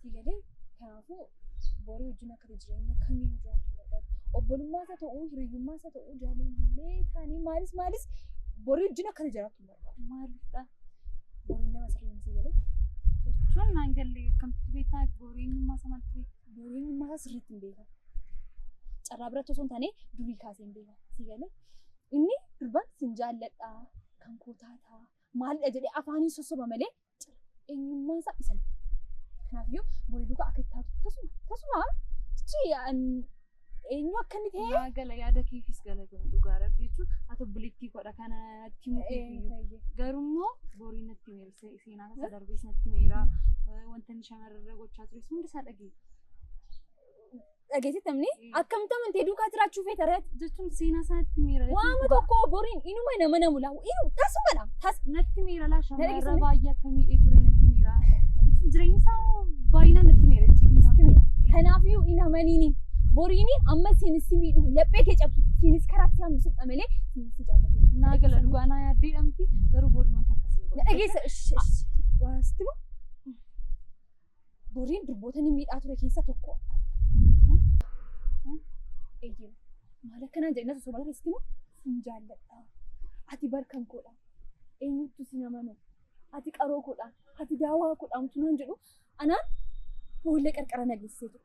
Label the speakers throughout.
Speaker 1: Sii galee kanaafuu borii wajjin akka jireenya kamiyyuu jiraachuu barbaadu. Obbolummaa isaa ta'uu, hiriyyummaa isaa ta'uu, jaalallee taanii maalis maalis borii wajjin akka jiraachuu barbaadu. Maalidha?
Speaker 2: Boriin nama
Speaker 1: sirrii miti galee. Jechuun
Speaker 2: naan galle akkamitti beektaa booreenyummaa isaa maaltu beektaa? Booreenyummaa isaa sirriitti
Speaker 1: hin beekan. Carraa biratti osoo hin taane durii kaasee hin beekan. Sii galee inni durbaan sin jaalladhaa kan koo taataa maalidha jedhee afaaniin sossoba malee eenyummaan isaa isa miti. Kanaafiyyuu borii duukaa akka itti taatu tasuma tasuma jechi eenyu akka inni ta'e. Yaa gala yaada keefis
Speaker 2: galatoom dhugaa rabbi jechuun haa ta'u biliittii godha kanatti mukeefiyyuu. Garummoo borii natti meera seenaa tasa darbees natti meera wanta inni shamarrarra gochaa tures hundi isaa dhageessa.
Speaker 1: dhageessitamne akkamitti amantee duukaa jiraachuu feeta reet jechuun seenaa isaatti
Speaker 2: miira waama tokko boriin
Speaker 1: inuma nama namu laawu inu tasumadha tas natti miira
Speaker 2: laa shamarra Dhageessifne. baay'ee akka miidhee ture natti miira jechuun jireenya isaa baay'inaan natti miira jechuudha. kanaafiyyuu
Speaker 1: hin amaniini boriini amma siinis si miidhu laphee kee cabsu siinis karaa si hambisuudha malee siinis si jaallatu Naa gala dhugaa naa
Speaker 2: yaaddee dhamti garuu borii wanta akkasii. na dhageessa sh- sh-
Speaker 1: waa sitti moo Boriin durboota ni miidhaa ture keessa tokko. Eeyyee maal akkanaan jedhina osoo bala keessatti moo sin jaalladha. Ati barkan koodha. Eenyutu sin amanu. Ati qaroo koodha. Ati daawaa koodha. Mutumaan jedhu anaan boolla qarqara nageessee ture.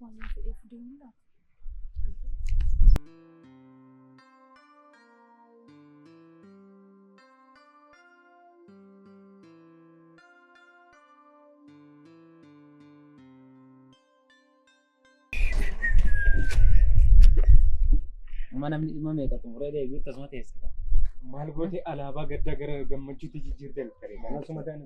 Speaker 2: Waan na fedheef deemuudhaaf. Amma
Speaker 3: namni dhimma meeqa xumuree deebi'u tasuma teessa. Maal gootee
Speaker 4: alaabaa gaddaa gara gammachuutti jijjiirte lakkare. Kanasuma ta'an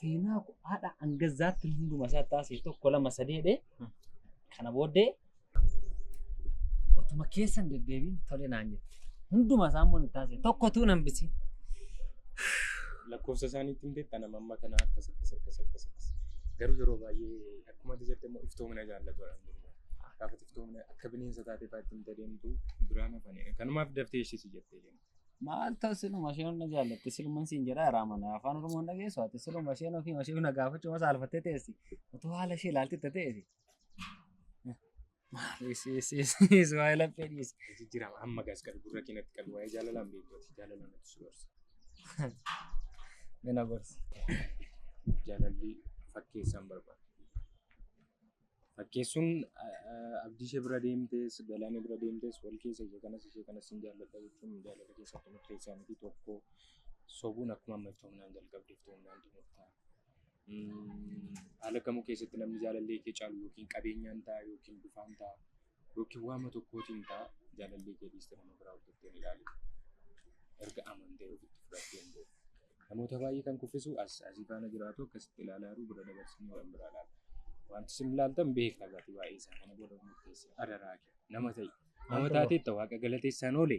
Speaker 3: seenaa kophaadha hanga zaatti hunduma isaa taasise tokko lama sadii jedhee kana booddee otuma keessa hin deddeebiin tole naan jette. Hunduma isaa immoo ni taasise tokko tuu nan bisi. Lakkoofsa
Speaker 4: isaaniitti hin beektan amma amma kana akkas akkas akkas akkas akkas. Garuu yeroo baay'ee akkuma ati jette immoo iftoomina jaallatu dha. Gaafa iftoomina akka bineensa taatee baatti hin deemtu biraan hafanii kanumaaf daftee ishee si jette. Maal ta'u siluma
Speaker 3: isheen na jaallatti siluma siin jedha irraa mana afaan oromoo hin dhageessu ati siluma isheen ofii ishee na gaafachuu masa alfattee teessi otoo haala ishee ilaalti itti ta'eeti. Maal isiisiis waa'ee laphee dhiisi. Jijjiirama amma gaas
Speaker 4: qabu gurra keenyatti qabu waa'ee jaalalaan beekumsa jaalalaan nuti si gorsa.
Speaker 3: Mina gorsi.
Speaker 4: Jaalalli fakkeessaan barbaada. Fakkeessuun abdii ishee bira deemtees galaana bira deemtees wal keessa ishee kanas ishee kanas hin jaalladha jechuun jaalala keessatti murteessaa miti tokko sobuun akkuma ammatti humnaan jalqabdeef humnaan xumurtaa. Haala kamuu keessatti namni jaalallee kee caalu yookiin qabeenyaan ta'a yookiin bifaan ta'a Yookiin waama tokkootiin ta'a jaalallee kee dhiistee nama biraa hordoftee hin ilaali. Erga amantee ofitti fudhattee hin beeku. Namoota baay'ee kan kuffisu as asii faana jiraatu akkasitti ilaalaa jiru bira dabarsanii waan biraa ilaalu. Wanti isin ilaaltan beekna gatii baay'ee isaa kana booda murteessi adaraa kee nama ta'i. Nama taateetta waaqa galateessaan oole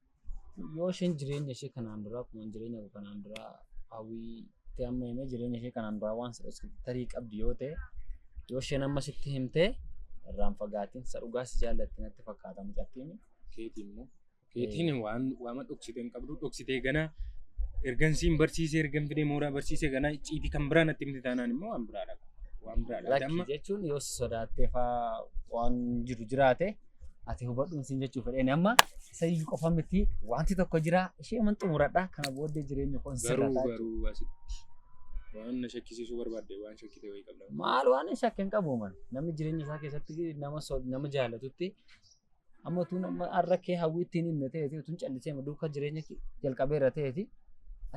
Speaker 3: yoo isheen jireenya ishee kanaan duraa akkuma jireenya koo kanaan duraa hawwii itti amma himee jireenya ishee kanaan duraa waan si dhoksite tarii qabdi yoo ta'e yoo isheen amma sitti himte irraan fagaatiin isa dhugaa si jaallatti natti fakkaata mucattiin keetiin immoo
Speaker 4: keetiin waan waama dhoksitee hin qabdu dhoksitee ganaa ergan siin barsiisee ergan fidee mooraa barsiisee ganaa icciitii kan biraa natti himte taanaan immoo waan biraadha waan biraadha lakki amma jechuun yoo si
Speaker 3: sodaattee faa waan jiru jiraate ati hubadhuun siin jechuu fedheen amma isa iyyuu qofa miti wanti tokko jira ishee man xumuradha kana booddee jireenya koon Garuu sirrataa garuu asitti
Speaker 4: waan na shakkisiisuu barbaadde waan shakkite wayii qabda. maal waan hin shakke hin
Speaker 3: qabu man namni jireenya isaa keessatti nama so- nama jaallatutti amma utuu nama har'a kee hawwii ittiin himne ta'eeti utuu hin callisee ma duuka jireenya kee jalqabee irra ta'eeti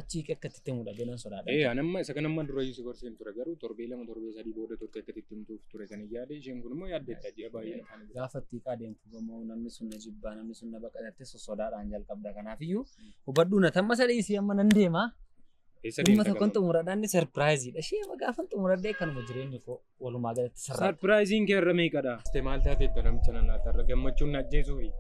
Speaker 3: achii kee akka itti himudha jedhan sodaadha. Ee ani amma isa kana amma dura
Speaker 4: iyyuu si gorseen ture garuu torbee lama torbee sadii booda turte akka itti himtuuf ture kan hin yaade isheen kun immoo yaaddeetta ji'a baay'ee. Gaafa itti hiikaa deemtu
Speaker 3: gamoo namni sun na jibbaa namni sun na baqatatte sosodaadhaan jalqabda. Kanaafiyyuu hubadhuu na tamma sadii isii amma nan deema. Eessa Dhimma deemta tokkon garuu? xumuradhaan inni sarpiraayiziidha. Ishee amma gaafan xumuradhee kanuma jireenyi koo walumaa galatti sarara. Sarpiraayiziin kee irra meeqadha?
Speaker 4: Tee maal taatee itti namicha nan laata irra gammachuun na ajjeesuufi.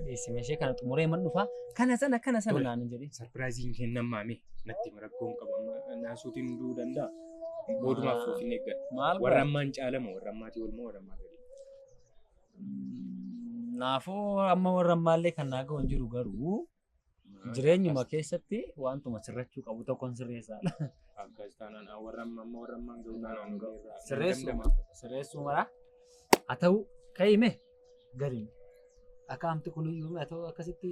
Speaker 4: Dhiyeessime ishee
Speaker 3: kana xumuree man dhufaa. Kana sana kana sana Tole. naan jedhi. Sarpiraayiziin kee nan maame
Speaker 4: natti hin rakkoon qabu amma naasuutiin du'uu danda'a. Mootummaaf foofiin eeggadha. Maal Warra ammaan caalamu warra ammaatii olmoo warra ammaa gadi.
Speaker 3: Naafuu amma warra ammaallee kan naa ga'u hin jiru garuu jireenyuma keessatti wantuma sirrachuu qabu tokkon sirreessaadha. Akkas taanaan
Speaker 4: ah, warra amma amma warra ammaan ga'u taanaan ga'u. Sirreessuma.
Speaker 3: Sirreessuu mara. Haa ta'u ka'ime gariin. Akka amti kun iyyuu haa ta'u akkasitti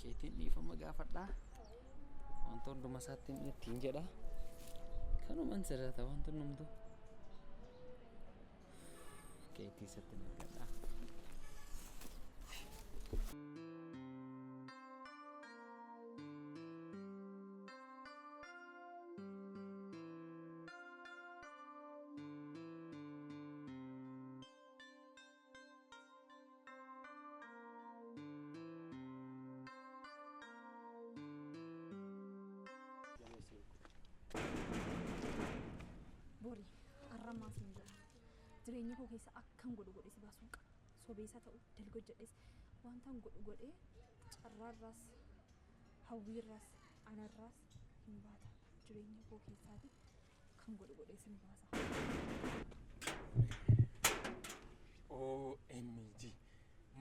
Speaker 3: keetiin dhiifama gaafadhaa wanta hunduma isaatti inni ittiin jedha kanuman sirrata wanta hundumtu keetii isatti hin argadhaa
Speaker 1: Bori har'a maaf hin jira. Jireenya koo keessa akkan godhu godhe si baasuun qaba. Sobeessa ta'u dalga hojjedhes wantan godhu godhee carraarraas hawwiirraas anarraas hin baata. Jireenya koo keessaati Kan
Speaker 4: godhu godhee sin baasa. OMG.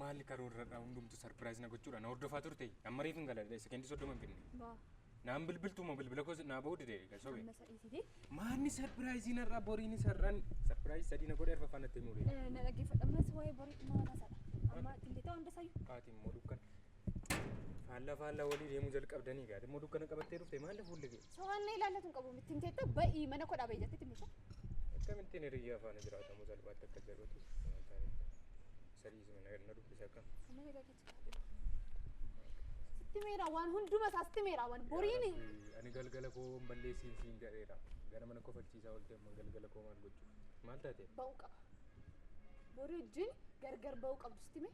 Speaker 4: Maali karoorradha hundumtu sarpiraayiz na gochuudha na hordofaa turte amma reefin galadha sekendi soddoma hin finne Baa. naan bilbiltuuma bilbila koo naa bahuu dide galsobe Amma isa dhiisitee. maanni sarpiraayiziin har'a boriin sar'an sarpiraayiz sadii na godhe arfaffaan natti himuu dide Na dhaggeeffadha ammas waa'ee
Speaker 1: borii maal haasa'adha. Amma tillitoo hunda sayyuu. haati immoo dukkan
Speaker 4: Faallaa faallaa walii deemuu jalqabdanii gaati. Immoo dukkana qabattee dhufte maal fuulli kee? So'annee ilaallatu hin qabu.
Speaker 1: Ittiin teettee ba'ii mana koo dhaabee jettee timmisha. Akkamittiin
Speaker 4: hiriyyaa faana jiraatamu salphaatti akka jedhutu sadiis na dubbisa akka. Amma nagaa keetti qaadhee.
Speaker 1: Sitti meera waan
Speaker 4: hunduma
Speaker 1: isaa sitti
Speaker 4: meera waan
Speaker 1: boriin. Ani
Speaker 4: galgala
Speaker 1: koo hin
Speaker 4: balleessiin
Speaker 1: siin
Speaker 4: jedheera.
Speaker 1: Gara
Speaker 4: mana kofalchiisaa ooltee amma galgala koo maal gochuuf? Maal taate? Ba'uu qaba.
Speaker 1: Borii wajjin gargar ba'uu qabdu sitti mee?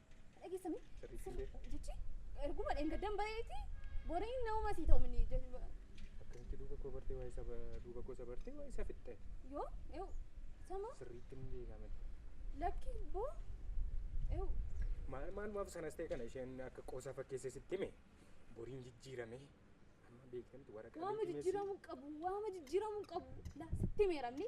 Speaker 1: Dhageessame. Sirriitti hin beeku.
Speaker 4: Jechi erguma
Speaker 1: dheengaddan bareeti boriin nama sii ta'u minni Akkasitti
Speaker 4: duuba koo bartee waa'ee saba duuba koo sabartee waa'ee isa fixxee. yoo yoo
Speaker 1: sama Sirriitti hin beekame.
Speaker 4: lakki
Speaker 1: boo yoo Maal
Speaker 4: maal maaf sanas ta'e kana isheen akka qoosaa fakkeessee sitti hime boriin jijjiirame amma beekamti waraqaa waama beekamee si- jijjiiramuu qabu
Speaker 1: waama jijjiiramuu qabu laa sitti meeramni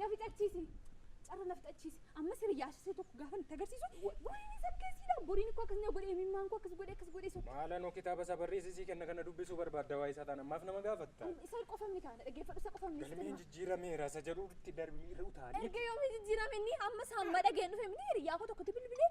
Speaker 1: Na fixachiisi! Carra na fixachiisi! Ammas hiriyyaa ishee tokko gaafan itti agarsiisu boriin isa akkeessiidha! Boriin koo akkas na godhe imimmaan koo akkas godhe akkas godhe isa. Maalanoo kitaaba isaa barreessi
Speaker 4: sii kenna kana dubbisuu barbaadda waa'ee isaa taanaan maaf nama gaafatta? Isa qofa miti kaa na
Speaker 1: dhaggeeffadhu isa qofa miti sitti Galmeen hima. jijjiirameera
Speaker 4: isa jedhutti darbi irra utaali. Erga yoomii jijjiirame inni
Speaker 1: ammas hamma dhageen dhufe miti hiriyyaa koo tokkotti bilbilee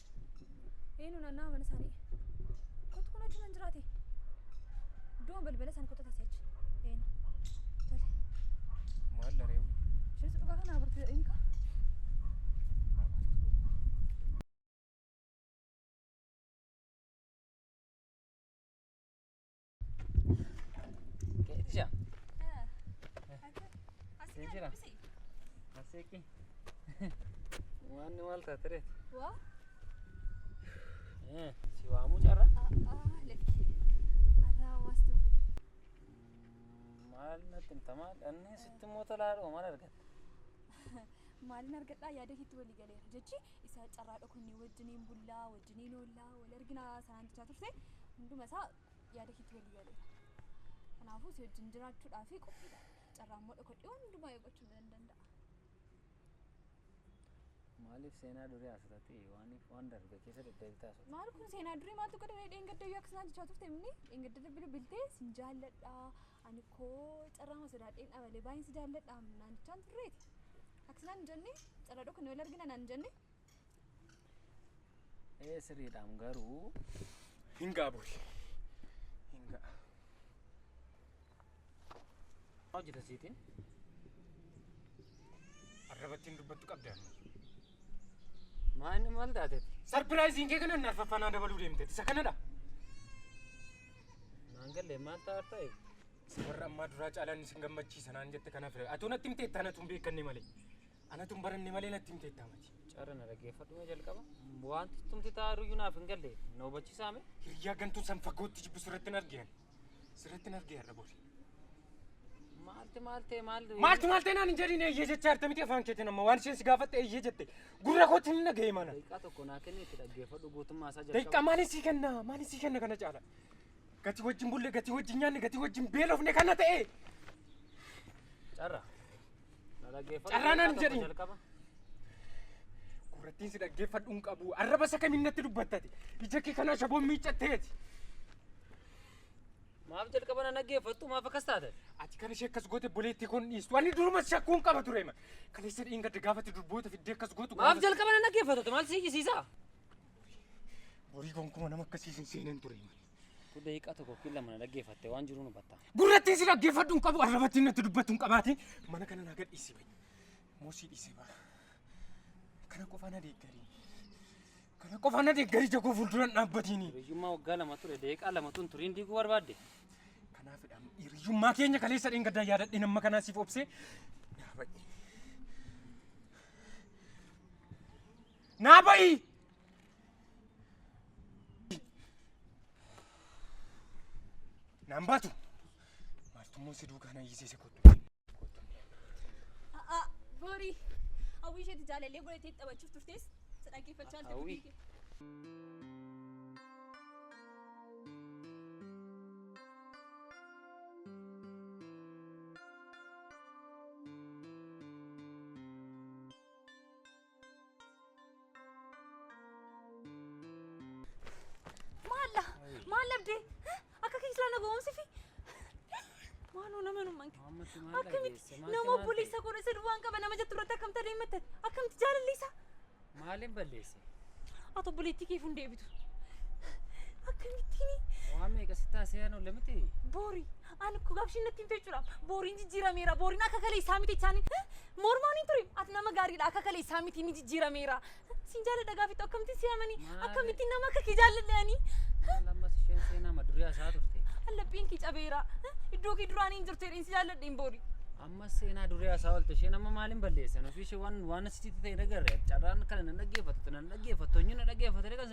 Speaker 1: Eenu naannaa mana isaanii. Kottu kun achi man jiraate. Iddoon balbala isaanii kottu tasee achi. Eenu. Tole. Maal dha
Speaker 4: reewwi? Ishinis dhugaa kana
Speaker 1: abartu jedhanii kaa.
Speaker 3: Keetisha.
Speaker 1: Asii jira. Aseeki.
Speaker 3: Waan ni maal taate reeti.
Speaker 1: Waa.
Speaker 3: Si waamuu carra. Lakki.
Speaker 1: Arraa waastu fide.
Speaker 3: Maal natti himta maal inni sitti immoo tolaadhuma maal argatte.
Speaker 1: Maaliin argadhaa yaada keetti walii galeera jechi isa carraa dhokannee wajjiniin bullaa wajjiniin oollaa wal arginaa sanaan jechaa turte hunduma isaa yaada keetti walii galeera. Kanaafuu si wajjin jiraachuudhaa fi qophiidha. Carraa immoo dhokodhee waan hundumaa eeggachuun nan danda'a.
Speaker 3: Maaliif seenaa durii haasatatti waan waan darbe keessa deddeebitee haasofta? Maal kun seenaa durii maaltu
Speaker 1: godha mee dheengadda iyyuu akkasuma jechaa turte imni dheengadda irra bilbiltee sin jaalladha ani koo carraa ma sodaadheen dhabalee baay'een si jaalladha naan jechaan turreeti. Akkasuma hin jenne carraa dhokannee wal argina naan hin jenne.
Speaker 4: Ee sirriidhaam garuu. Hin ga'a bori.
Speaker 3: Hin
Speaker 4: ga'a.
Speaker 3: Maal hojjeta siitiin?
Speaker 4: Arrabattiin dubbattu qabda. Maanni
Speaker 3: maal taateeti? Sarpiraayiziin kee kana
Speaker 4: narfaffannaa dabaluu deemteeti. Isa kanadha.
Speaker 3: Naan galle maal ta'a ta'e? Isa warra ammaa
Speaker 4: duraa caalaan isin gammachiisa naan jette kanaaf. Atuu natti miteettaa natu hin beekanne malee. Anatu hin baranne malee natti himte itti amati. Carra na dhaggeeffadhu
Speaker 3: mee jalqaba. Wanti tumti taa'aa jiru iyyuu naaf hin galle. Na hubachiisaa mee? Hiriyaa gantuun san
Speaker 4: fagootti jibbu sirratti hin argiyan. Sirratti hin argiyan dha bori. Maalti maaltee maalti? Maalti maaltee naan hin jedhin eeyyee jechaa jirta miti afaan keetiin amma waan isheen si gaafatte eeyyee jette. Gurra kootti hin dhaga'e mana. Daqiiqaa tokko naa kenni itti
Speaker 3: dhaggeeffadhu guutummaa isaa jalqaba. Daqiiqaa maaliin sii kenna?
Speaker 4: Maaliin sii kenna kana caala? Gatii wajjin bulle, gatii wajjin nyaanne, gatii wajjin beelofne kana ta'e.
Speaker 3: Carra. Carraa naan jedhi.
Speaker 4: Gurrattiin si dhaggeeffadhu hin qabu. Arraba isa kamiin natti dubbattati. Ija kee kanaa shaboon miiccatteeti.
Speaker 3: Maaf jalqaba na dhaggeeffattu maaf akkas taate? Ati kan ishee akkas goote
Speaker 4: boleettii kun dhiistu. Ani durumas shakkuu hin qaba ture. Kan isa dhiin gadda gaafate durboota fiddee akkas gootu. Maaf jalqaba na dhaggeeffattu
Speaker 3: maal si jisiisa?
Speaker 4: Borii gonkumaa nama akkasiisin seeneen ture. Utuu daqiiqaa tokko
Speaker 3: yookiin lama na dhaggeeffatte waan jiru hubatta. Gurrattiin si dhaggeeffadhu
Speaker 4: hin qabu, arrabattiin natti dubbattu hin qabaate. Mana kana naa gadhiisii ba'i. Moosii dhiisee ba'a. Kana qofaa na deeggarii. Kana qofaa na deeggarii jagoo fuuldura hin dhaabbatiini. Hiriyyummaa waggaa lama ture
Speaker 3: daqiiqaa lama tun turiin diiguu barbaadde. Kanaafidha
Speaker 4: hiriyyummaa keenya kaleessa dheengaddaa yaadadhe nama kanaa siif obsee naa ba'i. Naa ba'i! Naan baatu. Maaltummoo si duukaa na hiisise kottu. A'a,
Speaker 1: Boorii. Hawwii isheetti jaalallee godhatee taphachuuf turtees si dhaggeeffachaa jirti. Hawwii. Hawwii. Maalla maalla abdee akka keessaa na ga'umsifi maaloo nama nu manke akkamitti nama obboleessa godha isa duwwaan qaba nama jettu irratti akkamta deematte akkamti jaalalliisa Maaliin
Speaker 3: balleesse? ati obboleettii
Speaker 1: keef hin deebitu akkamittiin Waan meeqa si taasee
Speaker 3: anu lamiti? boori
Speaker 1: ani kugaabshiin natti hin fechuudha booriin jijjiirameera booriin akka kaleessaa miti isaanii Mormaa ni ture. Ati nama gaariidha. Akka kaleessaa miti ni jijjiirameera. Siin jaalladha gaafittu akkamittiin si amani? Maali? Akkamittiin nama akka kee jaalladhe ani? Maal ammas isheen
Speaker 3: seenaa madurii hasaa turte. Allaphiin kee cabeera.
Speaker 1: Iddoo kee duraanii hin jirtu jedheen si jaalladhe hin boori. Ammas seenaa
Speaker 3: durii hasaa oolte isheen amma maaliin balleessan ofii ishee waan waan asitti ta'e dhagarre carraan kana nan dhaggeeffattu nan dhaggeeffattu eenyu na dhaggeeffatanii kan